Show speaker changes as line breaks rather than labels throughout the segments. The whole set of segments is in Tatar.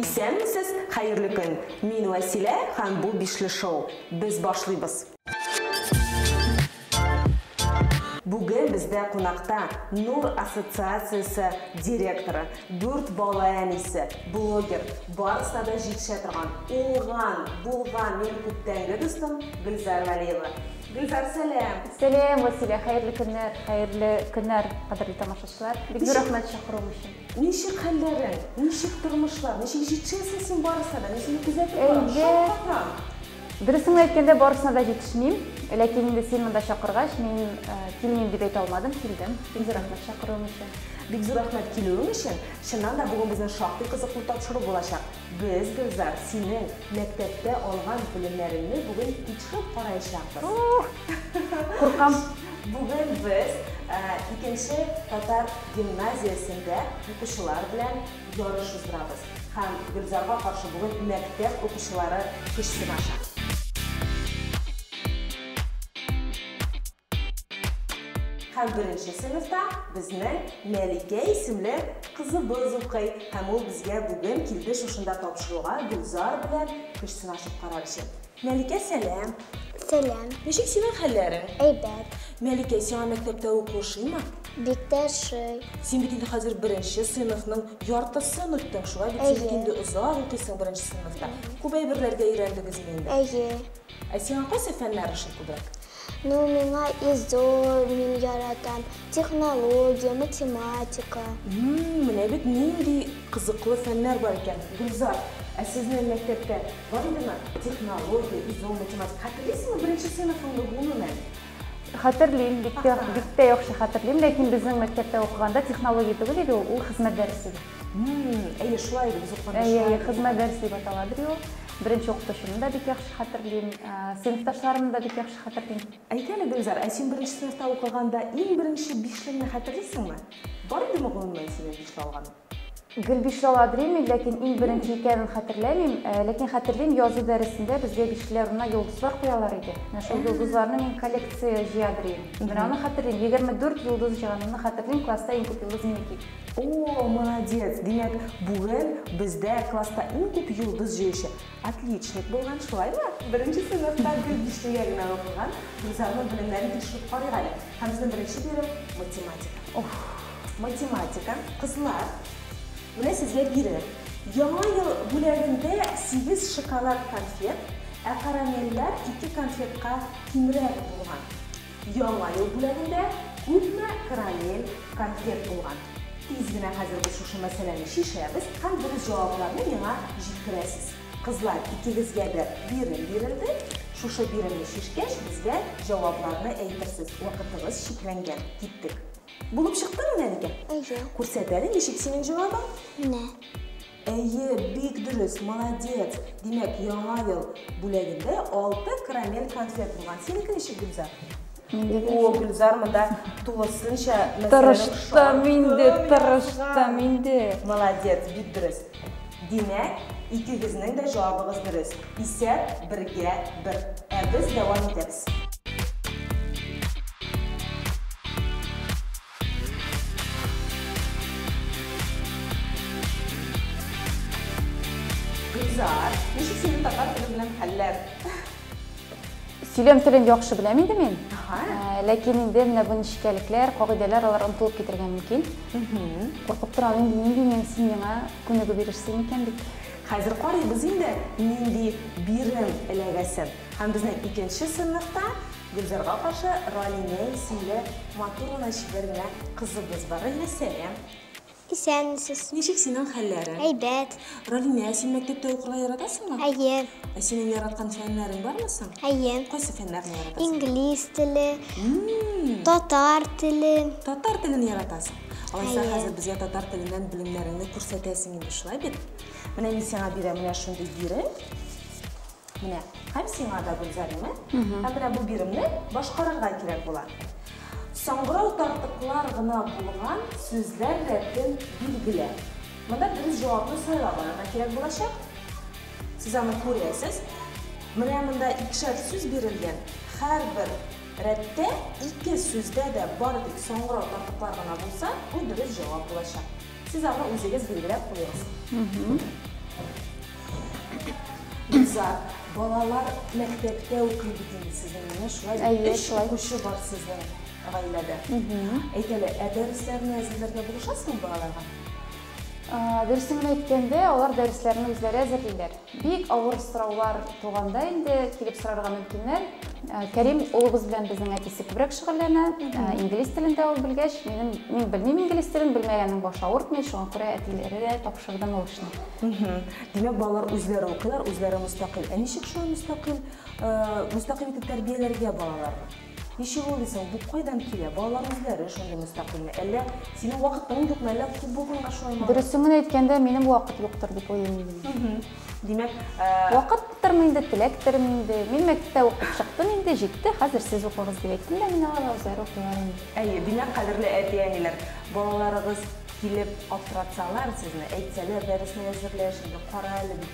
Исәнмесез, хәерле көн! Мин Вәсилә һәм бу Бишле шоу. Без башлыйбыз. Бүген бездә кунакта Нур ассоциациясе директоры, дүрт бала әнисе, блогер, барысына да җитешә торган, уңган, булган минем күптәнге дустым Гөлзар Вәлиева. Гөлзар, сәлам! Сәлам, Василия! Хәерле көннәр! Хәерле көннәр, кадерле тамашачылар! Бик зур рәхмәт чакыруың өчен! Ничек хәлләрең? Ничек тормышлар? Ничек җитешәсең син барысына да? Мин сине күзәтеп барам, шаккатам! Дөресен генә әйткәндә, барысына да җитешмим. Ләкин инде син монда чакыргач, мин килмим дип әйтә алмадым, килдем. Бик зур рәхмәт чакыруың өчен. Бик зур рәхмәт килүең өчен. Чыннан да, бүген безнең шактый кызыклы тапшыру булачак. Без, Гөлзар, синең мәктәптә алган белемнәреңне бүген тикшереп караячакбыз. Куркам. Бүген без икенче татар гимназиясендә укучылар белән ярыш уздырабыз. Һәм Гөлзарга каршы бүген мәктәп укучылары көч сынаша. Һәм беренче сыйныфта безнең Мәликә исемле кызыбыз укый. Һәм ул безгә бүген килде шушында тапшыруга Гөлзар белән көч сынашып карар өчен. Мәликә, сәлам! Сәлам! Ничек синең хәлләрең? Әйбәт. Мәликә, сиңа мәктәптә уку ошыймы? Бик тә ошый. Син бит инде хәзер беренче сыйныфның яртысын үттең, шулай бит? Син бит инде озак укыйсың беренче сыйныфта. Күп әйберләргә өйрәндегезме инде? Әйе. Ә сиңа кайсы фәннәр ошый күбрәк? Ну миңа изо мин яратам, технология, математика. Ммм, менә бит нинди кызыклы фәннәр бар икән. Гөлзар, ә сезнең мәктәптә бар идеме технология, изо, математика? Хәтерлисеңме беренче сыйныфыңны гомумән? Хәтерлим, бик тә яхшы хәтерлим, ләкин безнең мәктәптә укыганда технология түгел иде ул, ул хезмәт дәресе иде. Әйе, шулай иде, без укыганда шулай иде. Әйе, хезмәт дәресе дип атала бит ул. Беренче укытучымны да бик яхшы хәтерлим, сыйныфташларымны да бик яхшы хәтерлим. Әйт әле, Гөлзар, ә син беренче сыйныфта укыганда иң беренче бишлеңне хәтерлисеңме? Бар идеме гомумән синең бишле алганың? Гел бишле аладримим, ләкин иң беренче икәнен хәтерләмим. Ләкин хәтерлим, язу дәресендә безгә бишлеләр урынына йолдызлар куялар иде. Менә шул йолдызларны мин коллекция җыядыр идем. Менә аны хәтерлим. 24 йолдыз җыганымны хәтерлим, класста иң күп йолдыз минеке иде. Оо, молодец! Димәк, бүген бездә класста иң күп йолдыз җыючы отличник булган, шулаймы? Беренче сыйныфта гел бишлегә генә укыган Гөлзарның белемнәрен тикшереп карыйк әле. Һәм безнең беренче бирем, математика. Уф! Математика, кызлар, менә сезгә бирем. Яңа ел бүләгендә сигез шоколад конфет, ә карамельләр ике конфетка кимрәк булган. Яңа ел бүләгендә күпме карамель, конфет булган? Тиз генә хәзер без шушы мәсьәләне чишәбез һәм дөрес җавапларны миңа җиткерәсез. Кызлар, икегезгә дә бирем бирелде. Шушы биремне чишкәч, безгә җавапларны әйтерсез. Вакытыбыз чикләнгән. Киттек. Булып чыктымы, Мәликә? Әйе. Күрсәт әле, ничек синең җавабың? Менә. Әйе, бик дөрес, молодец! Димәк, яңа ел бүләгендә алты карамель конфет булган. Синеке ничек, Гөлзар? О, Гөлзар монда тулысынча Тырыштым инде, тырыштым инде. Молодец, бик дөрес. Димәк, икегезнең дә җавабыгыз дөрес. Исәп бергә бер. Ә без дәвам итәбез. Гөлзар, ничек сине татар теле белән хәлләр? Сөйләм телен яхшы беләм инде мин. Ә, Ләкин инде менә бу нечкәлекләр, кагыйдәләр алар онтылып китергә мөмкин. Куркып торам инде нинди мин син миңа күнегү бирерсең микән дип. Хәзер карыйбыз инде, нинди бирем эләгәсен. Һәм безнең икенче сыйныфта Гөлзарга каршы Ралинә исемле матур гына чибәр генә кызыбыз бар. Ралинә, сәлам! Исәнмесез. Ничек синең хәлләрең? Әйбәт. Ралинә, син мәктәптә укырга яратасыңмы? Әйе. Ә синең яраткан фәннәрең бармы соң? Әйе. Кайсы фәннәрне яратасың? Инглиз теле, татар теле. Татар телен яратасың? Алайса, хәзер безгә татар теленнән белемнәреңне күрсәтәсең инде, шулай бит? Менә мин сиңа бирәм менә шундый бирем. Менә, һәм сиңа да, Гөлзәримә, һәм менә бу биремне башкарырга кирәк була. Саңгырау тартыклар гына булган сүзләр рәтен билгелә. Монда дөрес җавапны сайлап алырга кирәк булачак. Сез аны күрәсез. Менә монда икешәр сүз бирелгән. Һәрбер рәттә ике сүздә дә бары тик саңгырау тартыклар гына булса, бу дөрес җавап булачак. Сез аны үзегез билгеләп куегыз. Гөлзат, балалар мәктәптә укый бит инде сезнең, менә шулай Әйе, өч шулай. укучы бар сезнең гаиләдә. Әйт әле, ә дәресләрне әзерләргә булышасыңмы балаларга? Ә, Дөресен генә әйткәндә, алар дәресләрне үзләре әзерлиләр. Бик авыр сораулар туганда инде килеп сорарга мөмкиннәр. Кәрим улыбыз белән безнең әтисе күбрәк шөгыльләнә. Инглиз телен дә ул белгәч, минем, мин белмим инглиз телен, белмәгәннең башы авыртмый, шуңа күрә әтиләргә тапшырдым ул эшне. Димәк, балалар үзләре укыйлар, үзләре мөстәкыйль. Ә ничек шулай мөстәкыйль, мөстәкыйль итеп тәрбияләргә балаларны? Ничек ул ди соң, бу кайдан килә? Балаларның үзләре шундый мөстәкыйльме? Әллә синең вакытың юкмы? Әллә күп булганга шулаймы алар? Дөресен генә әйткәндә, минем вакыт юктыр дип уйлыйм инде. Димәк, Вакыттырмы инде, теләктерме инде? Мин мәктәптә укып чыктым инде, җитте, хәзер сез укыгыз, дип әйттем дә, менә алар үзләре укыйлар инде. Әйе, димәк, кадерле әти-әниләр, балаларыгыз килеп аптыратсалар сезне, әйтсәләр, дәресне әзерләш инде, кара әле бит,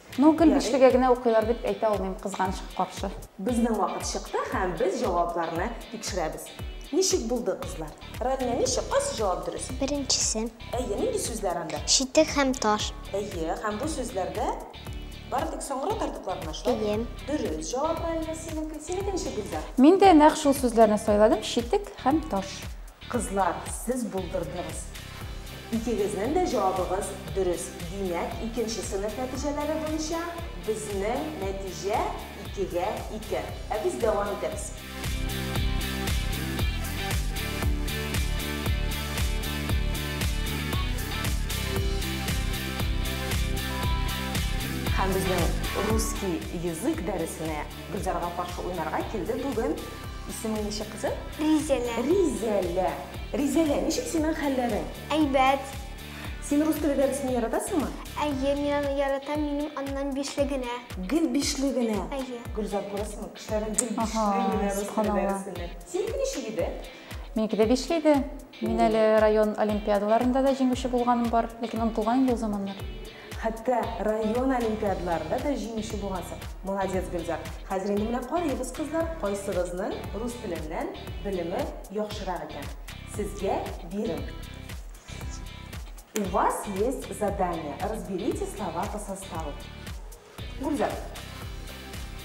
Ну, гел бишлегә генә укыйлар дип әйтә алмыйм, кызганычка каршы. Безнең вакыт чыкты һәм без җавапларны тикшерәбез. Ничек булды, кызлар? Рәгънә, ничек? Кайсы җавап дөрес? Беренчесе. Әйе, нинди сүзләр анда? Читек һәм таш. Әйе, һәм бу сүзләрдә бары тик соңгырау тартыклар гына, шулай? Әйе. Дөрес җавап, Рәгънә, синеке. Синеке ничек, Гөлзар? Мин дә нәкъ шул сүзләрне сайладым, читек һәм таш. Кызлар, сез булдырдыгыз. Икегезнең дә җавабыгыз дөрес. Димәк, икенче сыйныф нәтиҗәләре буенча безнең нәтиҗә икегә ике. Ә без дәвам итәбез. Һәм безнең русский язык дәресенә Гөлзарга каршы уйнарга килде бүген. Исеме ничек кызы? Ризәлә. Ризәлә. Ризәлә, ничек синең хәлләрең? Әйбәт. Син рус теле дәресен яратасыңмы? Әйе, мин яратам, минем аннан бишле генә. Гел бишле генә? Әйе. Гөлзар, күрәсеңме, кешеләрнең гел бишле генә рус теле дәресеннән. Синеке ничек иде? Минеке дә бишле иде. Мин әле район олимпиадаларында да җиңүче булганым бар, ләкин онытылган инде ул заманнар. Хәтта район олимпиадаларында да җиңүче булгансың. Молодец, Гөлзар. Хәзер инде менә карыйбыз, кызлар, кайсыгызның рус теленнән белеме яхшырак икән. Сезгә бирем. У вас есть задание, разберите слова по составу. Гөлзар.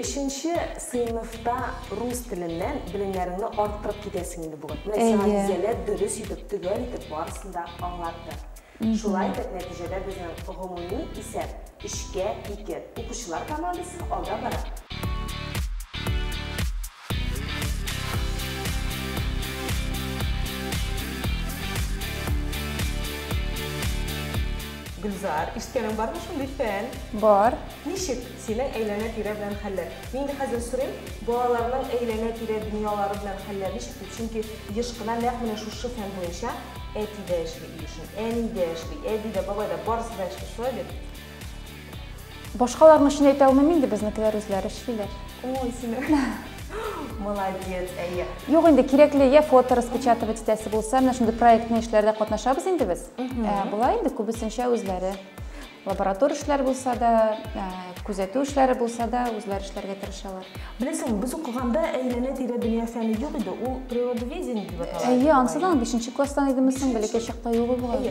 Өченче сыйныфта рус теленнән белемнәреңне арттырып китәсең инде бүген. Менә сиңа Әйе. Гүзәлә дөрес итеп, төгәл итеп барысын да аңлатты. Шулай итеп, нәтиҗәдә безнең гомуми исәп, өчкә ике. Укучылар командасы алда бара. Гөлзар, ишеткәнең бармы шундый фән? Бар. Ничек синең әйләнә-тирә белән хәлләр? Мин инде хәзер сорыйм, балаларның әйләнә-тирә дөньялары белән хәлләр ничек дип. Чөнки еш кына нәкъ менә шушы фән буенча әти дә эшли өй эшен, әни дә эшли, әби дә, бабай да, барысы да эшли. Шулай бит? Башкаларның өчен әйтәвемә мин дә безнекеләр үзләре эшлиләр. Ой, син. Молодец, әйе. Юк инде кирәкле я фото распечатывать итәсе булса, менә шундый проектный эшләрдә катнашабыз инде без. Ә, Болай инде күбесенчә үзләре. Лаборатор эшләр булса да, ә, күзәтү эшләре булса да, үзләре эшләргә тырышалар. Беләсең, без укыганда әйләнә-тирә дөнья фәне юк иде, ул природоведение дип атала. Әйе, ансы да 5 класстан идеме соң, бәләкәй чакта юк булган.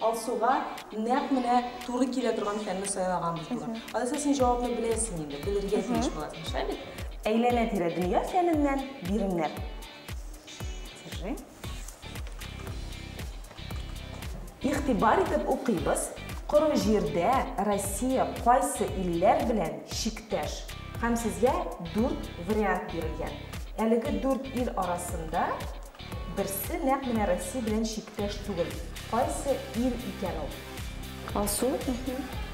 Алсуга нәкъ менә туры килә торган фәнне сайлаганбыз бүген. Алиса, син җавапны беләсең инде, белергә тиеш буласың, шә бит? Әйләнә-тирә дөнья фәненнән биремнәр. Держи. Игътибар итеп укыйбыз, Коры җирдә Россия кайсы илләр белән чиктәш? Һәм сезгә дүрт вариант бирелгән. Әлеге дүрт ил арасында. Берсе нәкъ менә Россия белән чиктәш түгел. Кайсы ил икән ул? Алсу,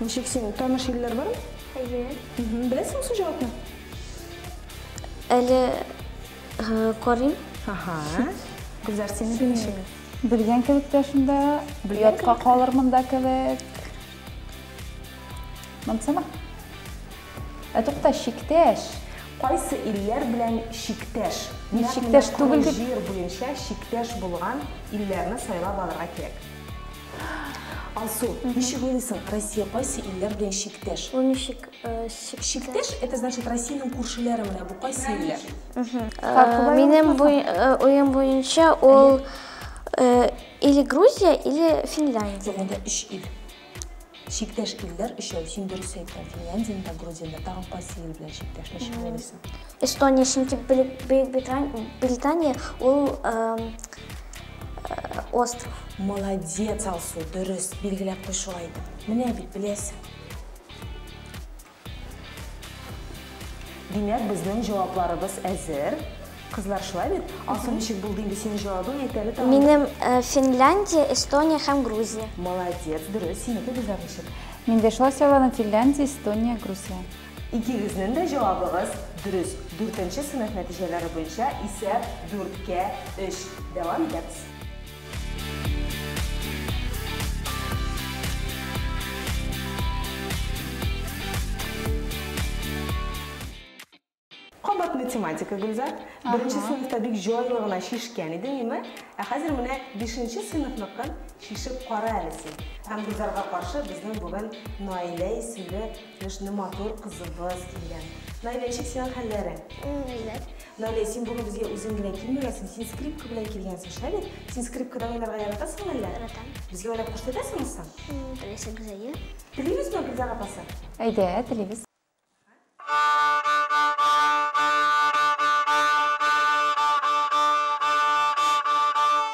ничек син, таныш илләр бар? Әйе. Беләсең су җавапны? Әле карыйм. Ага. Гүзәр, син ничек? Белгән кебек тә шунда, ятка калырмын да кебек. Монсама? Ә тукта, чиктәш! Кайсы илләр белән чиктәш? Мин чиктәш түгел дип. Җир буенча чиктәш булган илләрне сайлап алырга кирәк. Алсу, ничек уйлыйсың, Россия кайсы илләр белән чиктәш? Ул ничек чиктәш? Чиктәш, это значит Россиянең күршеләре менә бу кайсы илләр? Минем уем буенча ул или Грузия, или Финляндия. Дигәндә өч ил. Чиктәш илләр өчәү, син дөрес әйттең, Финляндияне дә, Грузияне дә, тагын кайсы ил белән чиктәшләшә алыйсың? Эстония, чөнки Бөекбритания ул остров. Молодец, Алсу, дөрес, билгеләп куй шулай итеп. Менә бит, беләсең. Димәк, безнең җавапларыбыз әзер. Кызлар, шулай бит? Алсу, ничек булды инде синең җавабың? Әйт әле тагын. Минем э, Финляндия, Эстония һәм Грузия. Молодец, дөрес. Синеке Гөлзар ничек? Мин дә шулай сайладым, Финляндия, Эстония, Грузия. Икегезнең дә җавабыгыз дөрес. Дүртенче сыйныф нәтиҗәләре буенча исәп дүрткә өч. Дәвам итәбез. Кабат математика, Гөлзат. Беренче сыйныфта бик җайлы гына чишкән идең, име? Ә хәзер менә бишенче сыйныфныкын чишеп кара әле син. Һәм Гөлзарга каршы безнең бүген Наилә исемле Кешне матур кызыбыз дигән. Наилә, ничек синең хәлләрең? Рәхмәт. Наилә, син бүген безгә үзең генә килмәгәнсең, син скрипка белән килгәнсең, шулай бит? Син скрипкада уйнарга яратасыңмы әллә? Яратам. Безгә уйнап күрсәтәсеңме соң? Теләсәгез, әйе. Телибезме, Гөлзар апасы? Әйдә, телибез.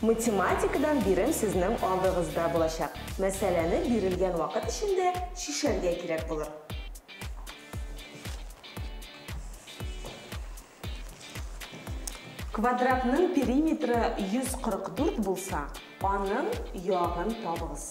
Математикадан бирем сезнең алдыгызда булачак. Мәсьәләне бирелгән вакыт эчендә чишәргә кирәк булыр. Квадратның периметры 144 булса, аның ягын табыгыз.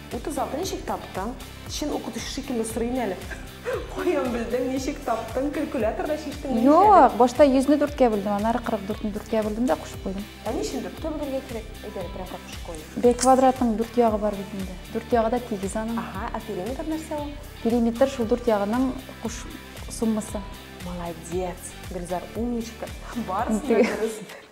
Утыз алты ничек таптың? Чын укытучы шикелле сорыйм әле. Каян белдең, ничек таптың, калькуляторда чиштең? Юк, башта 100-не дүрткә бүлдем, аннары 44-не дүрткә бүлдем дә кушып куйдым. Ә ни өчен дүрткә бүлергә кирәк? Әйт әле, прям как в школе. Б квадратның дүрт ягы бар бит инде. Дүрт ягы да тигез аның. Ага, а периметр нәрсә ул? Периметр шул дүрт ягының куш суммасы. Молодец, Гөлзар, умничка. Барысы да дөрес.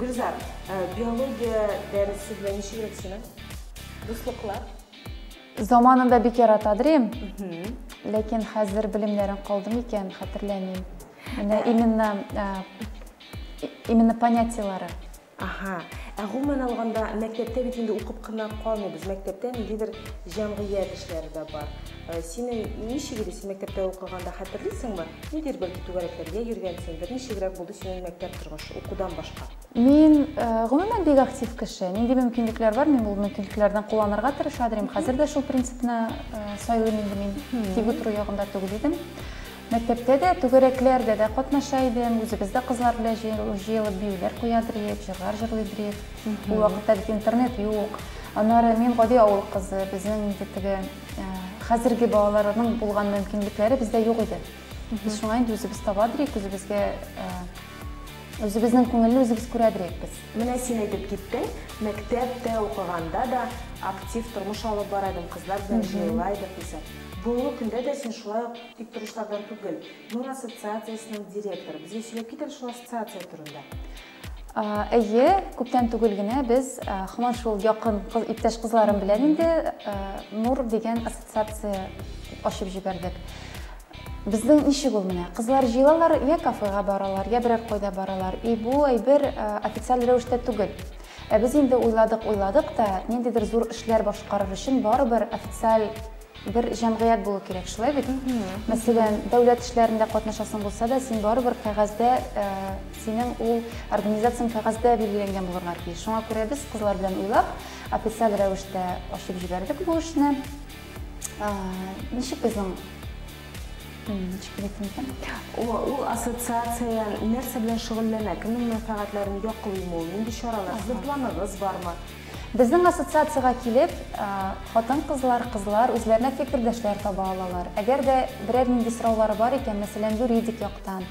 Гөлзар, э, биология дәресе белән ничек ел синең? Дуслыклар? Заманында бик яратадыр идем. Ләкин хәзер белемнәрен калдым икән, хәтерләмим. Менә именно э, именно понятиелары. Аһа. Ә гомумән алганда, мәктәптә бит инде укып кына калмыйбыз, мәктәптә ниндидер җәмгыять эшләре дә бар. Синең ничек иде, син мәктәптә укыганда хәтерлисеңме? Ниндидер бәлки түгәрәкләргә йөргәнсеңдер, ничегрәк булды синең мәктәп торгышы, укудан башка? Мин, гомумән, бик актив кеше. Нинди мөмкинлекләр бар, мин ул мөмкинлекләрдән кулланырга тырыша дырим. Хәзер дә шул принципны сайлыйм инде мин, тик утыру ягында түгел идем. Мәктәптә дә, түгәрәкләрдә дә катнаша идем. Үзебез дә кызлар белән җыелып биюләр куядыр идек, җырлар җырлыйдыр идек. Ул вакытта бит интернет юк. Аннары мин гади авыл кызы, безнең инде теге хәзерге балаларның булган мөмкинлекләре бездә юк иде. Без шуңа инде үзебез табадыр идек, үзебезгә үзебезнең күңелне үзебез күрәдер идек без. Менә син әйтеп киттең, мәктәптә укыганда да актив тормыш алып бара идем, кызлар белән җыела идек дисең. Бүгенге көндә дә син шулай ук Тик торышлардан түгел. Нур ассоциациясенең директоры. Безгә сөйләп кит әле шул ассоциация турында. Әйе, күптән түгел генә без һаман шул якын иптәш кызларым белән инде Нур дигән ассоциация ачып җибәрдек. Безнең ничек ул менә, кызлар җыелалар, йә кафега баралар, йә берәр кайда баралар, и бу әйбер официаль рәвештә түгел. Ә без инде уйладык-уйладык та, ниндидер зур эшләр башкарыр өчен барыбер официаль Бер җәмгыять булу кирәк, шулай бит? Мәсәлән, дәүләт эшләрендә катнашасың булса да, син барыбер кәгазьдә, синең ул организацияң кәгазьдә билгеләнгән булырга тиеш. Шуңа күрә без, кызлар белән уйлап, официаль рәвештә ачып җибәрдек бу эшне. Ничек безнең Ничек әйтим икән? Ул ассоциация нәрсә белән шөгыльләнә? Кемнең мәнфәгатьләрен яклыймы ул? Нинди чаралар? Сезнең планыгыз бармы? Безнең ассоциациягә килеп, хатын-кызлар, кызлар үзләренә фикердәшләр таба алалар. Әгәр дә берәр нинди сораулары бар икән, мәсәлән, юридик яктан,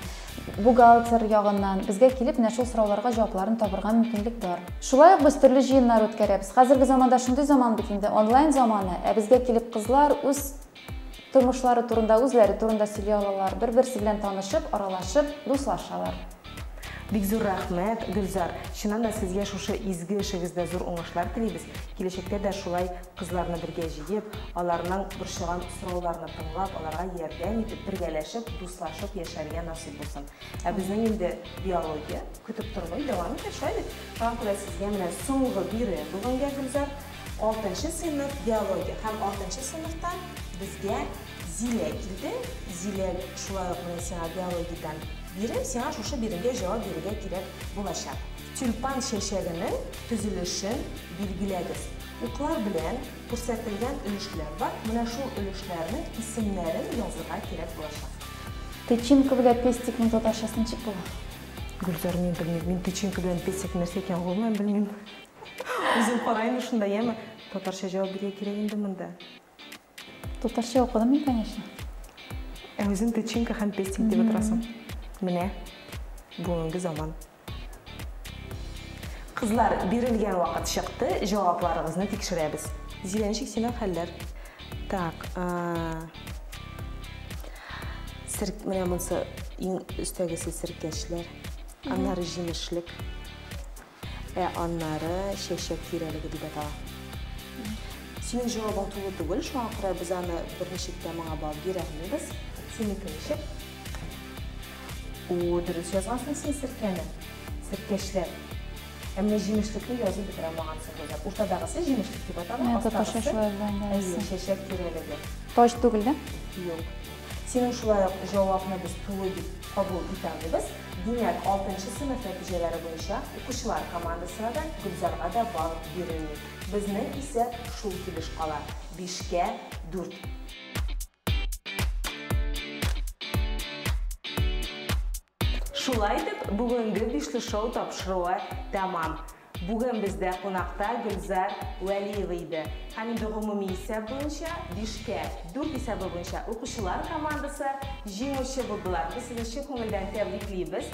бухгалтер ягыннан, безгә килеп, менә шул сорауларга җавапларын табырга мөмкинлек бар. Шулай ук без төрле җыеннар үткәрәбез. Хәзерге заманда шундый заман бит инде, онлайн заманы, ә безгә килеп кызлар үз Тормышлары турында, үзләре турында сөйли алалар, бер-берсе белән танышып, аралашып, дуслашалар. Бик зур рәхмәт, Гөлзар! Чыннан да сезгә шушы изге эшегездә зур уңышлар телибез. Киләчәктә дә шулай кызларны бергә җыеп, аларның борчыган сорауларны тыңлап, аларга ярдәм итеп, бергәләшеп, дуслашып яшәргә насыйп булсын. Ә безнең инде биология көтеп тормый, дәвам итә, шулай бит? Шуңа күрә сезгә менә соңгы биюе бүгенгә, Гөлзар. Алтынчы сыйныф биология һәм алтынчы сыйныфтан безгә Зилә килде. Зилә шулай ук менә сиңа биологиядән бирем, сиңа шушы биремгә җавап бирергә кирәк булачак. Тюльпан чәчәгенең төзелешен билгеләгез. Уклар белән күрсәтелгән өлешләр бар, менә шул өлешләрнең исемнәрен язырга кирәк булачак. Тычинка белән пестикның татарчасы ничек була? Гөлзар, мин белмим. Мин тычинка белән пестик нәрсә икәнен гомумән белмим. Үзем караем да шунда, яме. Татарча җавап биргә кирәк инде монда. Татарча укыдым мин, конечно. Ә үзең тычинка һәм пестик дип утырасың. Менә бүгенге заман. Кызлар, бирелгән вакыт чыкты, җавапларыгызны тикшерәбез. Зиләнчик, синең хәлләр? Так, серк, менә монсы иң өстәгесе серкәчләр, аннары җимешлек. Ә аннары чәчәк тирәлеге дип атала. Синең җавабың тулы түгел, шуңа күрә без аны берничек тә моңа бал бирәлмибез. Синеке ничек? О, дөрес язгансың син серкәне. Серкәчләр. Ә менә җимешлекне язып бетерә алмагансың, Гөлзат. Уртадагысы җимешлек дип атала, Әйе, татарча астагысы, шулай була инде, әйе. әйе, чәчәк тирәлеге. Таҗ түгел дә? Юк. Синең шулай ук җавапны без тулы дип кабул итә алмыйбыз. Димәк, алтынчы сыйныф нәтиҗәләре буенча укучылар командасына да, Гөлзарга да балл бирелми. Безнең исә шул килеш кала, бишкә дүрт. Шулай итеп, бүгенге Бишле шоу тапшыруы тәмам. Бүген бездә кунакта Гөлзар Вәлиева иде һәм инде гомуми исәп буенча бишкә дүрт исәбе буенча укучылар командасы җиңүче булдылар. Без сезне чын күңелдән тәбриклибез.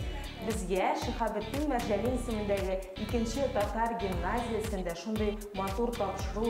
Безгә Шиһабетдин Мәрҗани исемендәге икенче татар гимназиясендә шундый матур тапшыру